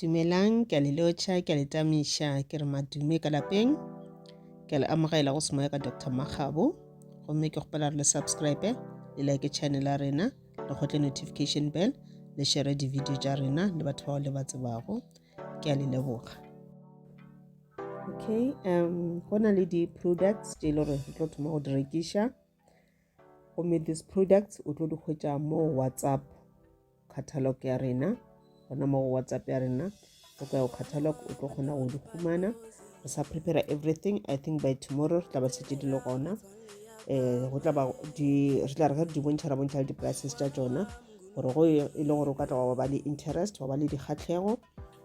Dumelang, ke a le lotšha, ke a le tamiša, ke re madume ka lapeng. Ke a le amogela go semoya ka Dr. Makgabo. Gomme ke kgopela re le subscribe, le like channel ya rena, le gotle notification bell, le share di-video tša rena le batho bao le ba tsebago. Ke a le leboga. Okay, um, go na le di-products tše e le gore re tlo thoma go di rekiša. gomme these products o tlo di hwetša mo whatsapp catalog ya rena gona mo whatsapp ya rena o ka go catalog o tlo kgona go di humana re sa prepare everything i think by tomorrow re tla ba setse di le gona um go tla ba di re tla re ge re di bontšha ra bontšha le di-prices tša tsona gore go e, e le gore o ka tla wa ba le interest wa ba le dikgatlhego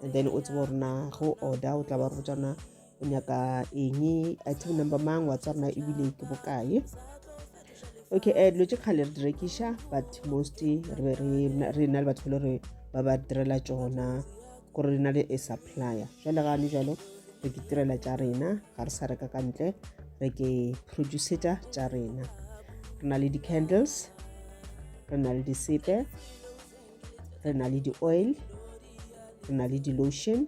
and then o tsebe gore na go order o tla ba re botsana o nyaka eng item number mang wa tswa rena ebile ke bokae okay um dilo tse kgale re di rekiša but mostly re be re na le batho ba le gore ba ba direla tsona gore re na le a supplier jale gane jalo re ke tirela tša rena ga re sa reka ka ntle re ke produceter tša rena re na le di-candles re na le disepe re na le di-oil re na le di-lotion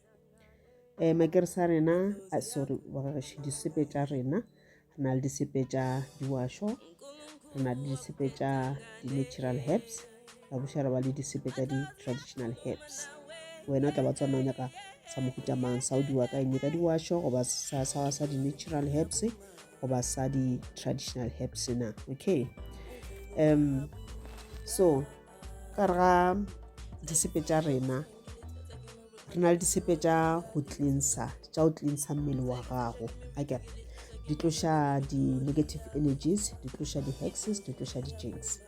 um makere sa rena sorry disepe tša rena re na le disepe tša diwasho re na le disepe tša di-natural herbs ra buša ra ba le disepe tša di-traditional herbs wena o tla ba tswana o nyaka sa mohuta mang sa o diwa ka eng ka diwasho goba sa di-natural herbs goba sa di-traditional herbs na okay um so ka re ga disepe tša rena re na le disepe tša go cleansa tša go cleansa mmele wa gago a kere di tloša di-negative energies di tloša di-hexes di tloša di-jinx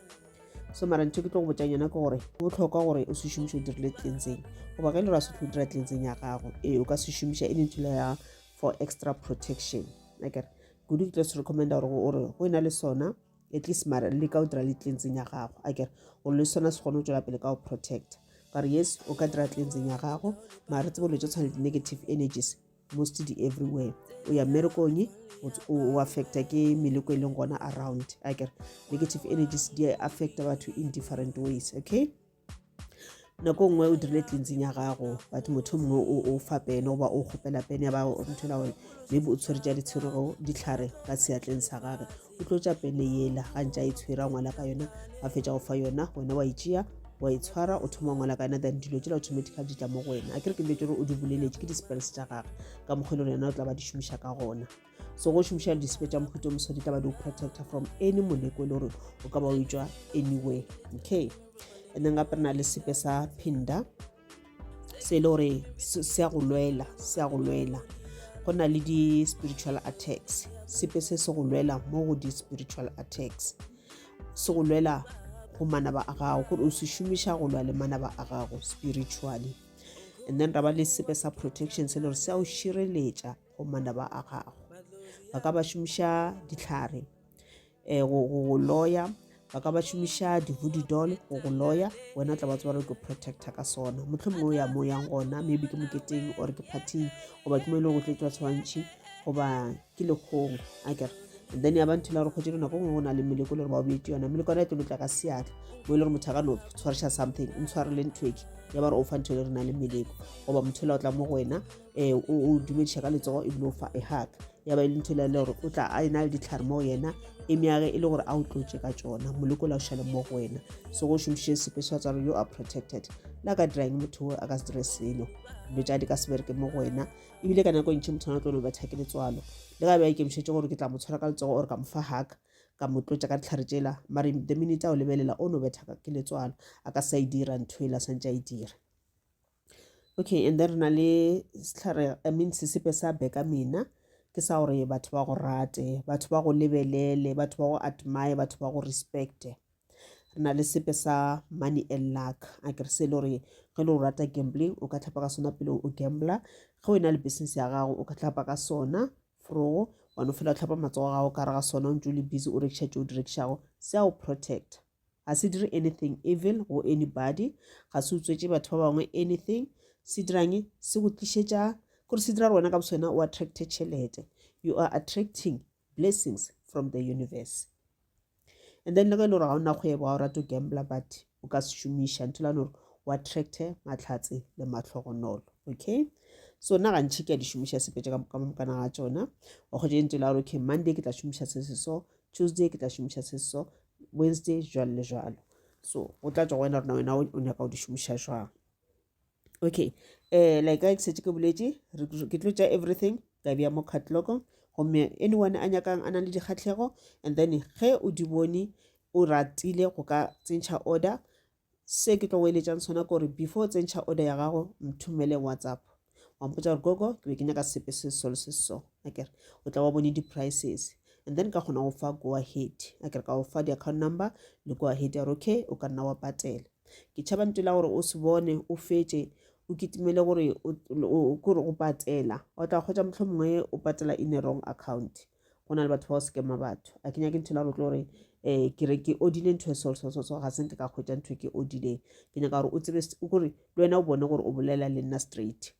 so mara ntho ke tlo go botsang yona ke gore go botlhokwa gore o se šomiše o dirile cleanseng goba ge e le gore a se tlo dira cleanseng ya gago ee o ka se šomiša e leng thula ya for extra protection akere kudu ke tlo se recommenda gore gore go e na le sona at least mara le ka o dira le cleansing ya gago a kere gore le sona se kgone go tswela pele ka go protect kare yes o ka dira cleansing ya gago mara re tsebo dilo tse tshwane di-negative energies most di everywhere o ya mmerekong o affecta ke meleko e leng gona around a kere negative energies di affecta batho in different ways okay nako nngwe o dirile tlintsing ya gago but motho mongwe o fa pene goba o kgopela pene ya ba o nthela gore maybe o tshwere tša ditshwerego ditlhare ka seatleng sa gage o tlo tša pene yela ga ntša e tshwera ngwala ka yona a fetša go fa yona wena wa itšea e wa e tshwara o thoma ngwala ka yona then dilo tšela automatical di tla mo go wena a kere ke dilo tse gore o di boleletše ke di-spells tša gage ka mokgwa e le gore yena o tla ba di šomiša ka gona so go šomiša le disipe tša mohuto moso di taba di o protecta from any moleko e le gore o ka ba o etswa anywhere okay and then gape re na le sepe sa pinda se e le gore se ya go lwela se ya go lwela go na le di-spiritual attacks sepe se se go lwela mo go di-spiritual attacks se go lwela go manaba a gago gore o se šomiša go lwa le manaba a gago spiritually and then ra ba le sepe sa protection se e le gore se ya o šireletša go manaba a gago ba ka ba šomiša ditlhare um go go loya ba ka ba šomiša di-voody doll go go loya wena o tla ba tseba gore ke protector ka sona motlho mongwe o ya mo yang gona maybe ke moketeng or ke partyng goba ke mo e leng go tletšwa tshwantšhi goba ke lekgong a kere and then ya ba nthela gore kgwedi nako ngwe go na le meleko le gore ba obetse yona meleko yona e tlo tla ka seatla mo e le gore motho a ka no tshwareša something o ntshwarele ntho eke ya ba re o fa ntho e le re na le meleko goba motho ela o tla mo go wena e o o dumediša ka letsogo e bile o fa e hug ya ba e le ntho e lele gore o tla a ena le ditlhare mo go yena e meage e le gore a o tlotše ka tsona moleko la o šale mo go wena so go o šomišitše sepe sa tswalo yo a protected la ka dirang motho o a ka se dire selo dilo tša di ka se bereke mo go wena ebile ka nako e ntšhi motho ana tlo no betha ke letswalo le ga be a ikemišetse gore ke tla mo tshwara ka letsogo gore ka mo fa hug ka mo tlotša ka ditlhare tšela mare the minute a o lebelela o no betha ke letswalo a ka sa e dira ntho e la santse a e dira okay and then re na le sehlare i mean sesepe sa beka mina ke sa gore batho ba go rate batho ba go lebelele batho ba go admire batho ba go respecte re na le sepe sa money and luck a ke re se e le gore ge le o rata gambling o ka tlhapa ka sona pele o gambla ge o na le business ya gago o ka tlhapa ka sona fro wa no fela o tlhapa matsogo gago ka re ga sona o ntse o le busy o rekiša tse o di rekišago se a o protect Ga se dire anything evil go anybody, ga se utswetše batho ba bangwe anything. Se dirang? Se go tlišetša kore se dira gore wena ka boswena o attracte tšhelete. You are attracting blessings from the universe. And then le ge e le gore ga o nna kgwebo ga o rate go gambler but o ka se šomiša ntho lane gore o attracte matlhatse le mahlogonolo okay so nna gantšhi ke a di šomiša sepetse ka mokana ga tsona wa kgwetšeng tela gore okay monday ke tla šomiša se se so tuesday ke tla šomiša se so Wednesday jwalo le jwalo so go tla tswa go wena rona wena o nyaka go di šomiša jwang okay um like a setse ke boletse ke tlo tša everything ka bea mo catalogong gomme anyone a nyakang a nang le dikgatlhego and then ge o di bone o ratile go ka tsentšha order Se ke tlo go eletšang sona ke gore before o tsentšha order ya gago mthumele WhatsApp wa mpotsa gore gogo ke be ke nyaka sepe se solo se so akere o tla wa bone di-prices and then ka kgona go fa go ahead akere ka go fa di-account number le go ahead ya gore okay o ka nna wa patela ke tšhaba nto la gore o se bone o fetše o kitimele gore kore go patela o tla kgwetsa motlho mongwe o patela in a wrong account go na le batho ba o sekema batho a ke nyake ntho la gore tlo gore um ke re ke odile ntho e solsososo ga senke ka kgwetsa ntho e ke odileng ke nyaka gore o tsebe kore le wena o bone gore o bolela le nna straight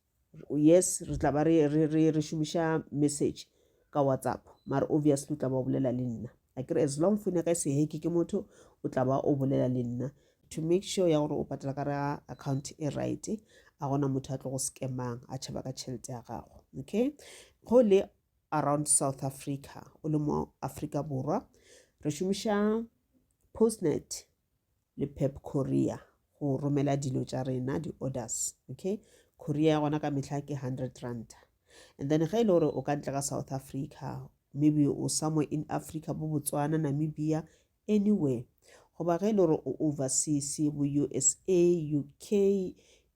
yes re tla ba re šomiša message ka whatsapp mara obviously o tla ba o bolela le nna a kere as long phone ya ka e se heke ke motho o tla ba o bolela le nna to make sure ya gore o patela ka ra account e right a gona motho a tlo go scamang a tšhaba ka tšhelete ya gago okay go le around South Africa o le mo Afrika Borwa re šomiša Postnet le Pep Courier go romela dilo tša rena di-orders okay courier ya gona ka mehla ke hundred rand and then ge e le gore o ka ntle ga South Africa maybe o somewhere in Africa bo Botswana Namibia anywhere goba ge e le gore o overseas bo usa uk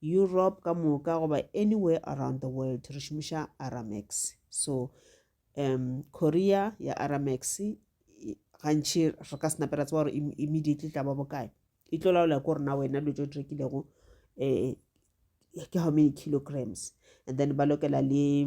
europe ka moka goba anywhere around the world re šomiša aramex so um korea ya aramex gantši re ka sena pera tseba gore immediately tla ba bokae e tlo laola ko rena wena dilo tse o di rekilego um ke how many kilograms and then ba lokela le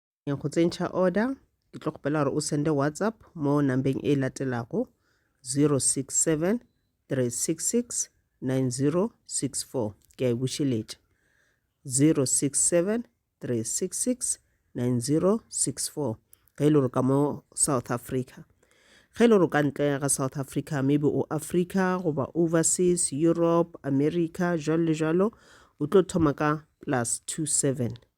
nyang go tsentšha order ke tlo kgopela gore o sende whatsapp mo nambeng e latelago 067 366 9064 ke a e bušeletša 067 366 9064 ge e le gore ka mo south africa ge e le gore ka ntle ga south africa maybe o africa goba overseas europe america jalo le jalo o tlo thoma ka plus 27